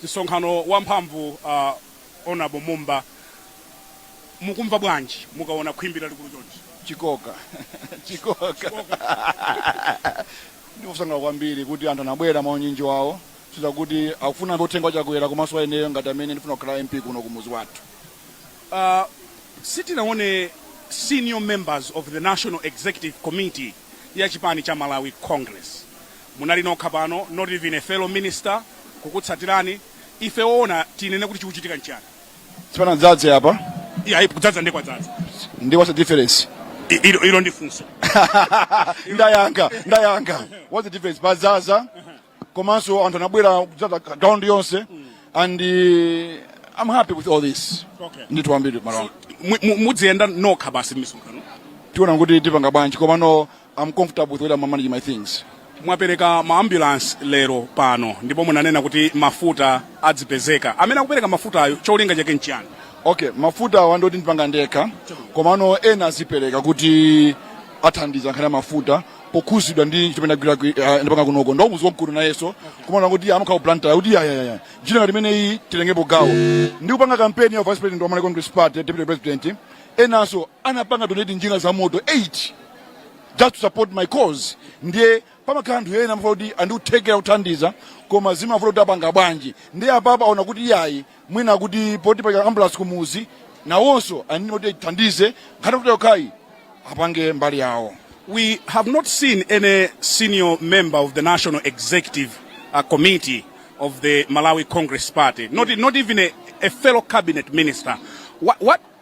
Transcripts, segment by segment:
msonkhano wamphamvu uh, honorable mumba mukumva bwanji mukaona khwimbi lalikulu chonchi chikoka chikoka ndipo ndikusangalala kwambiri kuti anthu anabwera mwaunyinji wawo kuchitira kuti akufuna amve uthenga wachakwera komanso waineyo ngati amene ndifuna kukhala mp kuno kumuzi wathu uh, sitinaone senior members of the national executive committee ya chipani cha malawi congress Munali nokha pano, not even a fellow minister kukutsatirani. Ife oona tinene kuti chikuchitika nchiyani? Sipanadzadze apa. Iyayi, kudzadza ndiye kwadzadza. Ndiye what's the difference? Ilo, ilo ndi funso. Ndayankha, ndayankha. What's the difference? Padzaza komanso anthu anabwera kudzadza ground yonse and uh, I'm happy with all this. Okay. Ndithu ambiri mara. Mudziyenda nokha basi misonkhano. Tiona kuti tipanga bwanji komano I'm comfortable with the way I'm managing my things. mwapereka maambulansi lero pano ndipo munanena kuti mafuta adzipezeka amene akupereka mafutayo cholinga chake nchiyani okay mafuta awa ndi oti ndipanga ndekha komano ena azipereka kuti athandiza nkhani ya mafuta pokhuzidwa ndi chimene agwira kwi- ah, ndipanga kunoko ndo muzi wamkulu nayeso komano kuti amakhala pulani yoti iyayi njira ngati imeneyi titengepo gawo ndi kupanga kampeni ya vice president wa malawi congress party deputy president enanso anapanga donate njinga za moto 8 just to support my cause ndiye pamakhala anthu ena amavuta kuti ali ndi kuthekera kuthandiza koma zimavuta kuti apanga bwanji ndiye apapa aona kuti iyayi mwina kuti poti pa ambulance kumuzi nawonso anini kuti ithandize nkhani kuti yokhayi apange mbali yawo we have not seen any senior member of the National Executive uh, Committee of the Malawi Congress Party, not, not even a, a fellow cabinet minister. What, what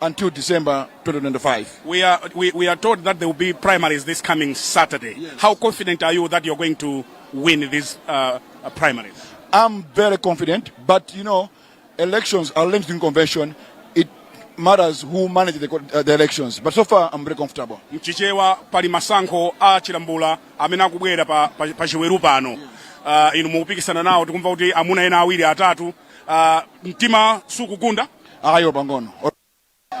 until December 2025. We are, we, we are told that there will be primaries this coming Saturday. Yes. How confident are you that you're going to win these uh, uh, primaries? I'm very confident, but you know, elections are linked in convention. It matters who manages the, uh, the elections. But so far, I'm very comfortable. Mchichewa pali masankho a chilambula amene akubwera pa, pa, pa chiweru pano. Uh, inu mukupikisana nawo tikumva kuti amuna ena awiri atatu uh, mtima sukugunda ayi pang'ono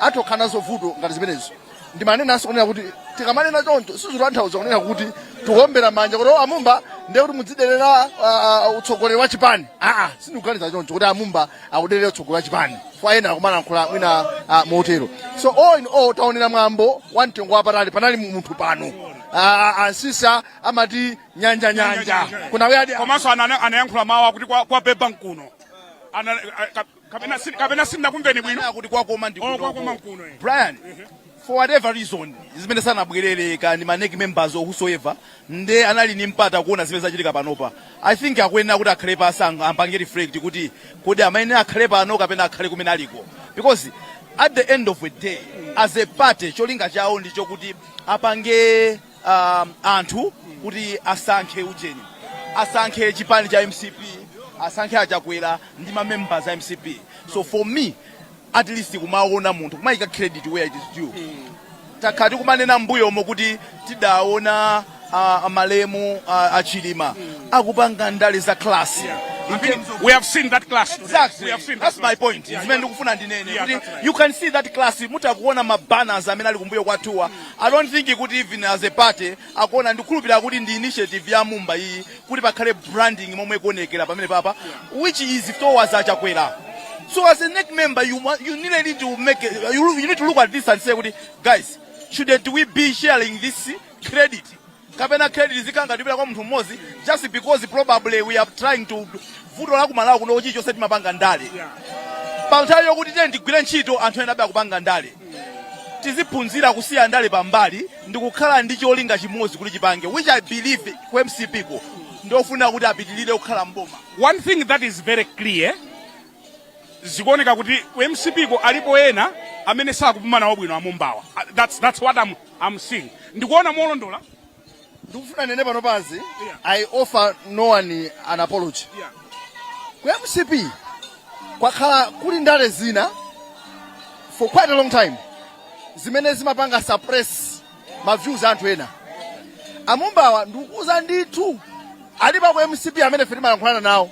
atha kukhala ndi vuto ngati zimenezo ndimanenanso kunena kuti tikamanena choncho sizitanthauza kunena kuti tikuombera manja kuti "Oh, a Mumba ndiye kuti mudziderera ah, ah, utsogoleri wa chipani aa sindikuganiza choncho kuti a Mumba akuderera utsogoleri wa chipani kwa ena akumalankhula mwina ah, motero so all in all taonera mwambo wa mtengo wapatali panali munthu pano Ah, a Msiska amati nyanja nyanja kuna wadi komanso ana- anayankhula mawu akuti kwa- kwabeba mkuno Ana- a- ka- kapena si- kapena sindinakumveni bwino kuti kwakoma ndi Oh, kwakoma mkuno eh. brian for whatever reason zimene sanabwerere kaya ndi ma NEC members or whosoever nde anali ni mpata kuona zimene zachitika panopa i think akuyenera kuti akhale pansi ang- ampange reflect kuti kodi amene akhale pano kapena akhale kumene aliko because at the end of the day as a party cholinga chawo ndicho kuti apange um, anthu kuti asankhe ujeni asankhe chipani cha mcp asankhe achakwera ndi mamembers a mcp so for me at least kumaona munthu kumayika credit where it is due takhala tikumanena mbuyomo kuti tidaona uh, malemu uh, achilima akupanga ndale za class In terms of- we have seen that class today. Exactly. We have seen That's that my class. point. Yeah, Zimene yeah. ndikufuna ndinene Yeah, kuti that's right. you can see that class mukuona mabanners amene ali kumbuyo kwathuwa I don't think kuti even as a party akuona ndikukhulupirira kuti ndi initiative ya mumba iyi kuti pakhale branding momwe ikuonekera pamene papa which is towards achakwera so as a NEC member you, wa- you really need to make a- you, you need to look at this and say kuti guys shouldn't we be sharing this credit kapena credit izikhala ngati ikupita kwa munthu mmodzi just because probably we are trying to vuto la ku Malawi kuno chilichonse timapanga ndale pa nthawi yokuti tiyeni tigwire ntchito anthu ena adabe akupanga ndale tiziphunzira kusiya ndale pambali ndi kukhala ndi cholinga chimodzi kuti tipange which i believe ku mcpko ndofuna kuti apitirire kukhala mboma One thing that is very clear zikuoneka kuti ku mcpko alipo ena amene sakupuma nawo bwino amumbawa Ah, that's, that's what I'm, I'm seeing ndikuona molondola ndikufuna ndinene pano pansi Yeah. i offer no one an apology yeah. ku mcp kwakhala kuli ndale zina for quite a long time zimene zimapanga suppress ma views a anthu ena amumbawa ndikuuzani ndithu alipo ku mcp amene ife timalankhulana nawo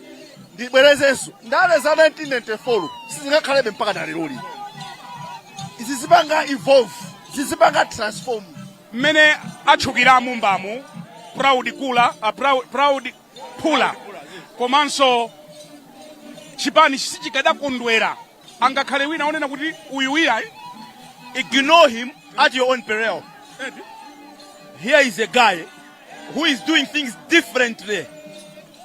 ndibwerezenso ndale za 1994 sizingakhalebe mpaka na lero lino zizipanga evolve zizipanga transform mmene atchukira amumbamu proud phula a proud, proud phula komanso chipani sichikadakondwera angakhale wina onena kuti uyuyu iyayi ignore him at your own peril here is a guy who is doing things differently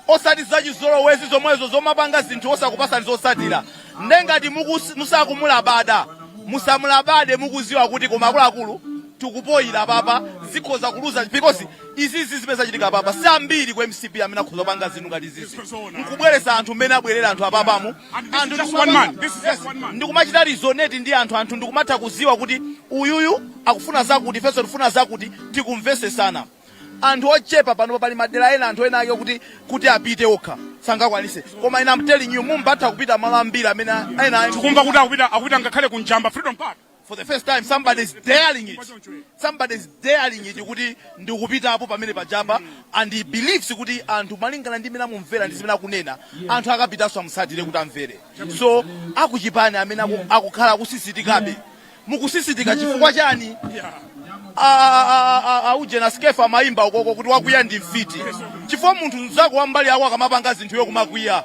osati zachizolowezi zomwezo zomapanga zinthu osakupasani zotsatira nde ngati mukus- musakumulabada musamulabade mukuziwa kuti koma akuluakulu tikupoyira papa zikhoza kuluza because izizi zimene zachitika papa si ambiri ku mcp amene akhoza kupanga zinthu ngati izizi nkubweresa anthu mmene abwerera anthu apapamu anthu just one man. This is just one man. ndikumachita resonate ndi anthu anthu ndikumatha kuziwa kuti uyuyu akufuna zakuti ifenso tifuna zakuti tikumvesesana anthu ochepa pano pali madera ena anthu enaake kuti apite okha sangakwanise koma ina I'm telling you mumba atha kupita malo ambiri amene ena tikumva kuti akupita ngakhale ku njamba freedom park for the first time somebody is daring it somebody is daring it kuti ndikupitapo pamene paNjamba and he believes kuti anthu malingana ndi mmene amumvera ndi zimene akunena anthu akapitanso amutsatire kuti amvere so akuchipani amene aku- akukhala akusisitikabe mukusisitika chifukwa chani aujena skefa amayimba ukoko kuti wakwiya ndi mfiti chifukwa munthu mzako wambali yako akamapanga zinthu iwe kumakwiya